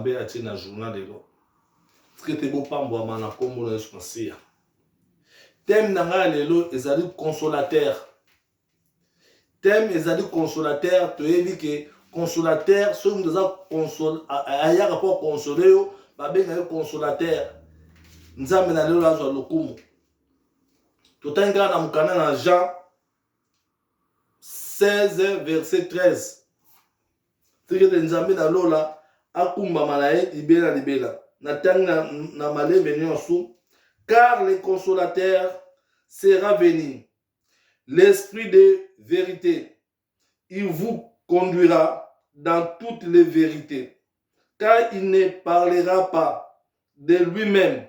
mabe atie na journal lelo tike te bopambwama na nkombo na yesu masiya teme na ngai ya lelo ezali consolateur teme ezali consolateur toyebi ke consolateur soki moto aza console ayaka mpo akonsole yo babenga ye consolateur nzambe na lelo azwa lokumu totangi kaka na mokanda na jean 16 verset 13 Tika ete Nzambe na lola akumbama na ye libela na libela. Natangi na, na malembe nyonso, car le consolateur sera venu, l'esprit de vérité, il vous conduira dans toutes les vérités, car il ne parlera pas de lui-même,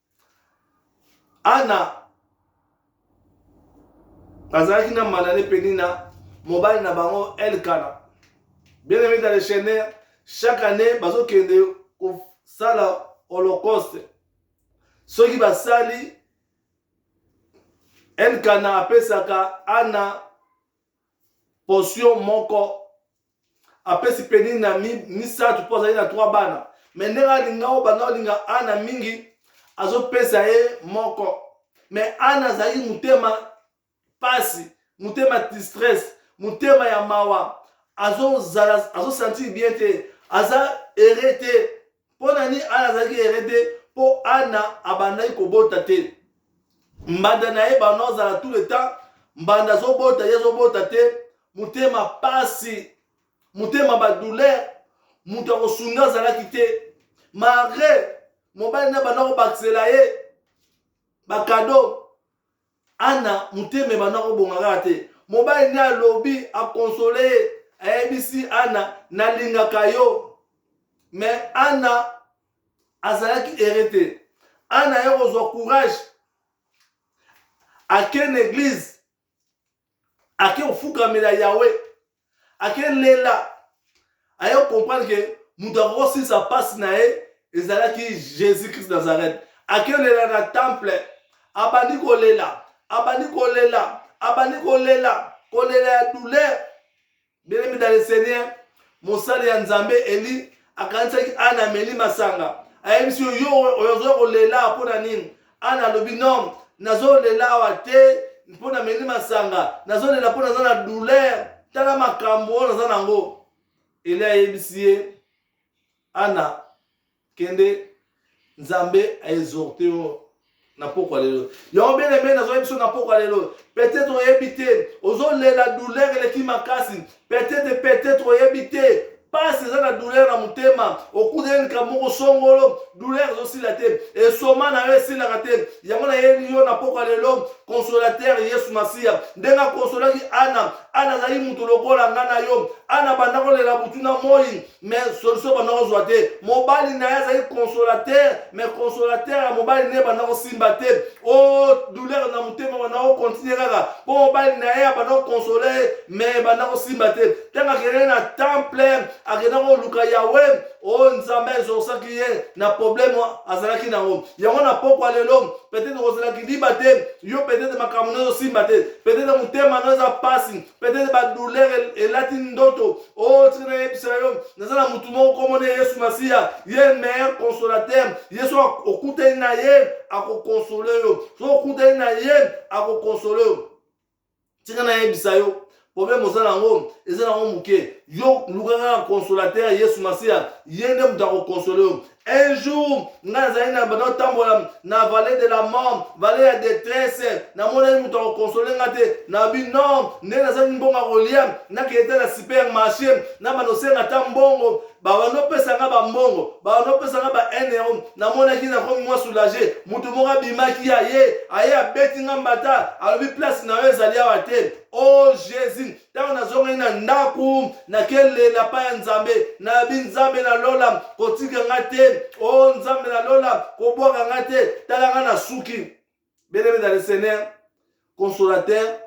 Ana azalaki na Mana ne Penina, mobali na bango Elkana. Bien aimé dans le Seigneur, chaque année bazokende kosala holocauste. Soki basali Elkana apesaka Ana portion moko apesi penini na misato mpo azali na trois bana me ndenge alinga oyo banda olinga ana mingi azopesa ye moko me ana azali motema mpasi motema distress motema ya mawa azosantire azo bien te aza ere te mpo na nini ana azalaki ere te mpo ana abandaki kobota te mbanda na ye bana ozala tout le temps mbanda azobota ye azobota te motema pasi motema badouleur moto akosunga azalaki te malgre mobali na banda kobakisela ye bakado Anna motema ebanda kobonga kaka te. Mobali nde alobi akonsole ye, ayebisi Anna nalingaka yo. Me Anna azalaki ere te. Anna ye kozwa courage ake na eglize ake kofukamela yawe ake lela aye kocomprendre ke moto akoki kosilisa mpasi na ye ezalaki jésus christ nazareth ake lela na temple abandi kolela abandi kolela abandi kolela kolela ya douleur belemi dans le seigneur mosali ya nzambe eli akanisaki ana ameli masanga ayebisi yo yo oyo ozoya kolela mpo na nini ana alobi non nazolela awa te mpo nameli masanga nazolela mpo naza na douleur tala makambo oyo naza nango eli ayebisi ye ana kende nzambe aexorte yo na pokwa lelo yango bene mbe nazoyebi biso na pokwa lelo peut-être oyebi te ozolela douleur eleki makasi Peut-être, peut-être oyebi te pasi eza na douleur na motema okutani likambo moko songolo douleur ezosila te esoma na yo esilaka te yango nayeli yo na pokwa lelo consolateur yesu masiya ndenge akonsolaki ana ana azali moto lokola ngai na yo ana banda kolela butu na moi mais solution banda kozwa te mobali na ye azali consolateur mais consolateur ya mobali na ye banda kosimba te o oh, douleur na motema banda kocontinue kaka mpo mobali na ye abanda kokonsole ye mais banda kosimba te ntango akendaki na temple akenda koluka yawe o oh, nzambe ezokisaki ye na problème azalaki nango yango na pokwa lelo peut-être kozala kiliba te yo peut-être makambo na ezosimba te peut-être motema na eza mpasi peut-être badouleur elati ndoto o oh, tika nayebisa yo naza na motu moko komona yesu masiya ye meilleur consolateur yesu okutani na ye akokonsole yo so okutani na ye akokonsole yo tika nayebisa yo problème oza nango eza nango moke yo lukaka na consolateur yesu masiya ye nde moto akokonsole yo Un jour, nga nazali na banda otambola na vallée de la mort, vallée ya détresse. Namonaki moto akokonsole nga te. Na bi non, nde nazali mbongo ya kolia. Nakende te na supermarché, na banda osenga ata mbongo. Babanda opesa nga bambongo, babanda opesa nga ba 1 euro. Namonaki nakomi mwa soulage. Moto moko abimaki ya ye, aye abeti nga mbata, alobi place na yo ezali awa te. Oh Jésus, ntango nazongaki na ndako nakelela pa ya nzambe nabi nzambe na lola kotika nga te o oh, nzambe na lola kobwaka nga te tala nga na suki belebe na le seigneur consolateur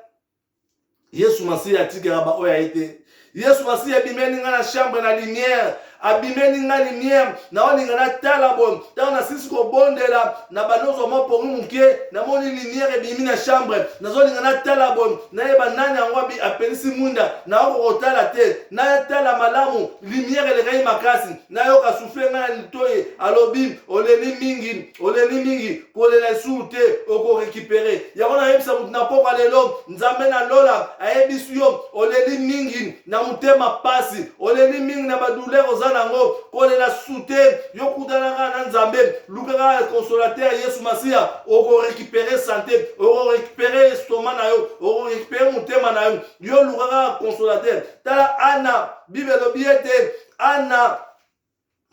yesu masiya atikaka baoyo aye te yesu masiya ebimeli nga na chambre na lumière abimeli nga lumière naolinga natala bo ntango nasilisi kobondela na banozwa mwa pongi moke namoni lumière ebimi na chambre nazolinga natala bo nayeba nani yango apelisi mwinda naoko kotala te natala malamu lumière elekaki makasi nayoka sufle ngai na litoyi alobi oleli mingi oleli mingi kolela esuru te okorekipere yango nayebisa moto na pokwa lelo nzambe na lola ayebisi yo oleli mingi na motema mpasi oleli mingi na badouleur oza nango kolela sute yo kutanaka na nzambe lukaka na consolate ya yesu masiya okorekipere sante okorekipere estoma na yo okorekipere motema na yo yo lukaka na consolateur tala ana bible elobi ete ana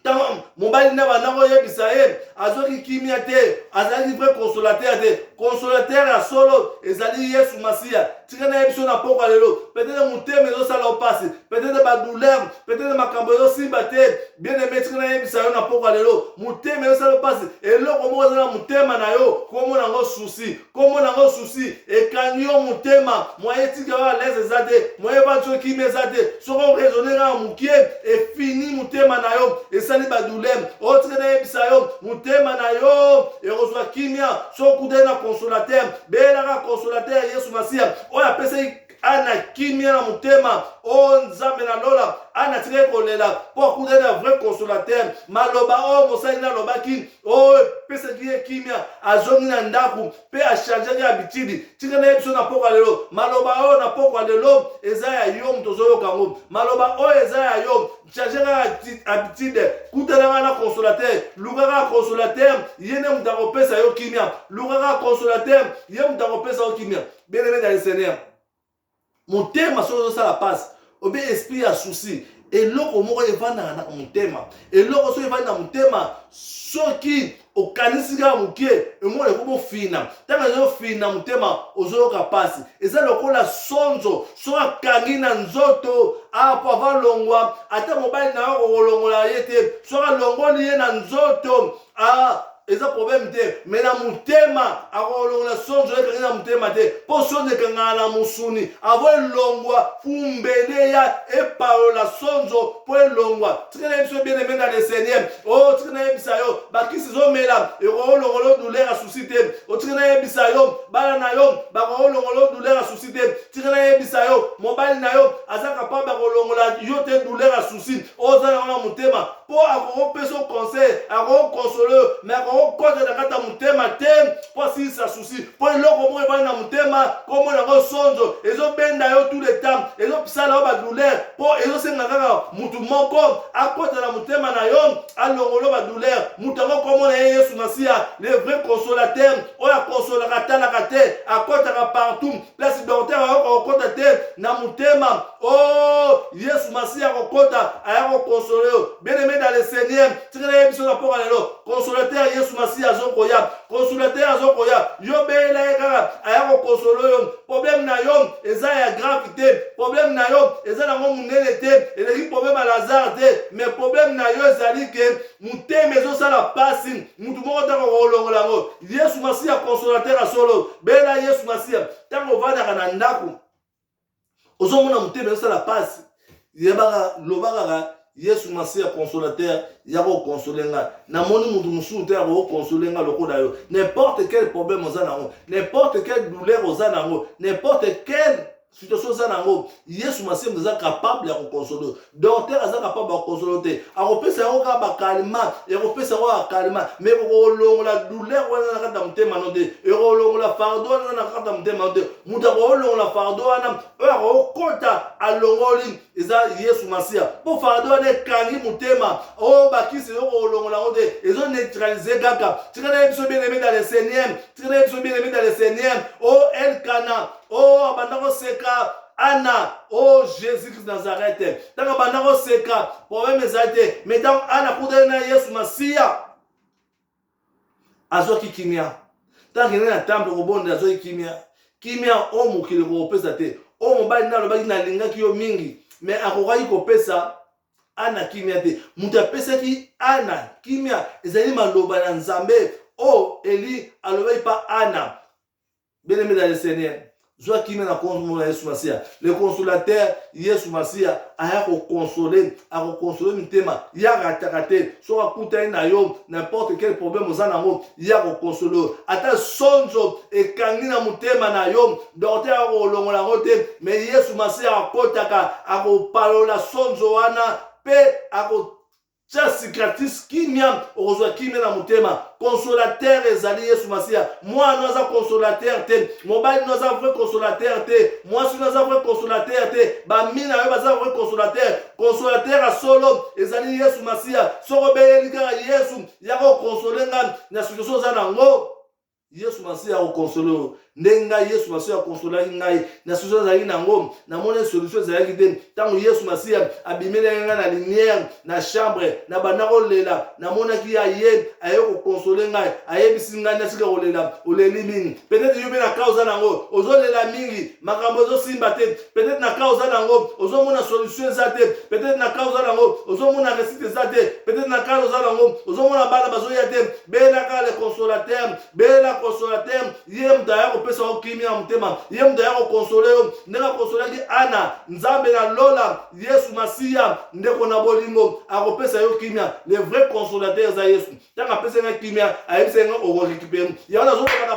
ntango mobali na banda koyebisa ye azwaki kimia te azalaki vrai consolateur te consolateur ya solo ezali yesu masiya tika nayebi so na poko ya lelo petete motema ezosala yo mpasi petete badouleur petete makambo ezosimba te bien aime tika nayebisa yo na poko ya lelo motema ezosala yo mpasi eloko moko eza na motema na yo komona yango susi kombo na ngo susi ekangi yo motema moye etika yo alaise eza te moye evandi yo kimi eza te soki oraisonne kaka mokie efini motema na yo esali badulem otika nayebisa yo motema na yo ekozwa kimia soki okutani na consolateur beyelaka consolateur yesu masiya oyo apesaki ana kimia na motema o oh, nzambe na lola ana atikaki kolela mpo akutani na vrai consolateur maloba oyo oh, mosali na alobaki oyo oh, epesaki ye kimia azongi na ndako mpe achangeaki habitude tika na ye biso na pokwa lelo maloba oyo na pokwa lelo eza ya yo moto ozoyoka yango maloba oyo eza ya yo change kaka habitude kutanaka na consolateur lukaka consolateur ye nde moto akopesa yo kimia lukaka consolateur ye moto akopesa yo kimia bien aimé dans le seigneur motema soki ozosala pasi obe esprit ya souci eloko moko evandaka na motema eloko soki evandi na motema soki okanisi kaka moke emona ekomi ofina ntango ezofina motema ozoyoka mpasi eza lokola sonzo soki akangi na nzoto apo avalongwa ata mobali na yo kokolongola ye te soki alongoli ye na nzoto ah eza problème te me na motema akolongola sonzo ekangi na motema te mpo sonzo ekangana na mosuni avo elongwa fumbele ya epalola sonzo mpo elongwa tika nayebisa yo bien emenda le seigneur o oh, tika nayebisa yo bakisi ezomela ekokolongola odule ya susi te o oh, tika nayebisa yo bana na yo bakokolongola odule ya susi te tika nayebisa yo mobali na yo aza kapable akolongola yo te dule ya susi oza yango na motema mpo akoki kopesa yo conseil akoki kokonsole yo me akoki kokota na kati ya motema te mpo asilisa susi mpo eloko moko ebandi na motema komona yango sonzo ezobenda yo tout le temps ezosala yo badouleur mpo ezosenga kaka motu moko akota na motema na yo alongolo badouleur moto yango komona ye yesu masiya le vrai consolateur oyo akonsolaka atalaka te akotaka partout place dorter ayoka kokota te na motema Oh, Yesu Masiya akokota, aya kokonsole yo. Bien-aimé dans le Seigneur, tikala ye biso na mpoka lelo. Consolateur Yesu Masiya azokoya. Consolateur azokoya. Yo beyela ye kaka, aya kokonsole yo. Problème na yo eza ya grave te. Problème na yo eza nango monene te. Eleki problème ya Lazare te. Mais problème na yo ezali ke motema ezosala mpasi. Motu moko te akokolongola yango. Yesu Masiya consolateur ya solo. Beyela Yesu Masiya. Ntango ovandaka na ndako, ozomona motema ezosala mpasi yebaka loba kaka yesu masiya consolateur ya kokonsole ngai namoni moto mosusu te ya kokonsole ngai lokola yo n'importe quel problème oza nango n'importe quel douleur oza nango n'importe quel situation oza nango yesu masiya moto eza capable ya kokonsole docteur aza kapable ya kosolo te akopesa yango kaka bakalima ekopesa yango akalima me kokolongola douleur wana na kati ya motema no te ekolongola fardo wana na kati ya motema no te moto akokolongola fardo wana oyo akokota alongoli eza yesu masiya mpo fardo wana ekangi motema oyo oh, bakisi yo kolongola yango te ezo neutralize kaka tika na ye biso bien aimé dans le seigneur tika na ye biso bien aimé dans le seigneur o oh, elkana o oh, abanda koseka Anna, oh Jésus Christ Nazareth, ntango abanda koseka, problème ezali te, mais ntango Anna akutani na Yesu Masiya, azwaki kimia. Ntango akendaki na temple kobondela, azwaki kimia. Kimia oyo oh, mokili kokopesa te, oyo oh, mobali nde alobaki nalingaki yo mingi, mais akokaki kopesa Anna kimia te. Moto apesaki Anna kimia ezali maloba na Nzambe oyo oh, Eli alobaki pa Anna Bien aimé dans le Seigneur, zwa kimia na kombo na Yesu Masiya. Le consolateur Yesu Masiya aya kokonsole, akokonsole mitema. Ye arataka te. Soki akutani na yo n'importe quel problème oza na yango, ye akokonsole yo. Ata sonzo ekangi na motema na yo, dokter akolongola yango te, me Yesu Masiya akotaka, akopalola sonzo wana mpe ako tya cicatrice kimia okozwa kimia na motema consolateur ezali yesu masiya mwana no aza consolateur te mobali no aza vrai consolateur te mwasi no aza vrai consolateur te bamina yo baza vrai consolateur consolateur ya solo ezali yesu masiya soko obeleli kaka yesu yaka okonsole ngai na situation oza na yango yesu masiya akokonsole oyo ndenge ngai yesu masiya akonsolaki ngai na susi azalaki na yango namoni solution ezalaki te ntango yesu masiya abimelaki ngai na lumière na chambre na banda kolela namonaki ye aye aye kokonsole ngai ayebisi ngai natika kolela oleli mingi peut-être yo mpe na kaa oza na yango ozolela mingi makambo ezosimba te peut-être na cas oza nango ozomona solution eza te peut-être na cas oza nango ozomona réussite eza te peut-être na cas oza nango ozomona bana bazoya te bela kaka le consolateur bela consolateur ye moto aya kopesa yo kimia ya motema ye moto aya kokonsole yo ndenge akonsolaki ana nzambe na lola yesu masiya ndeko na bolingo akopesa yo kimia le vrai consolateur eza yesu ntango apesaki nga kimia ayebisaki nga okorekipere yango nazolobaka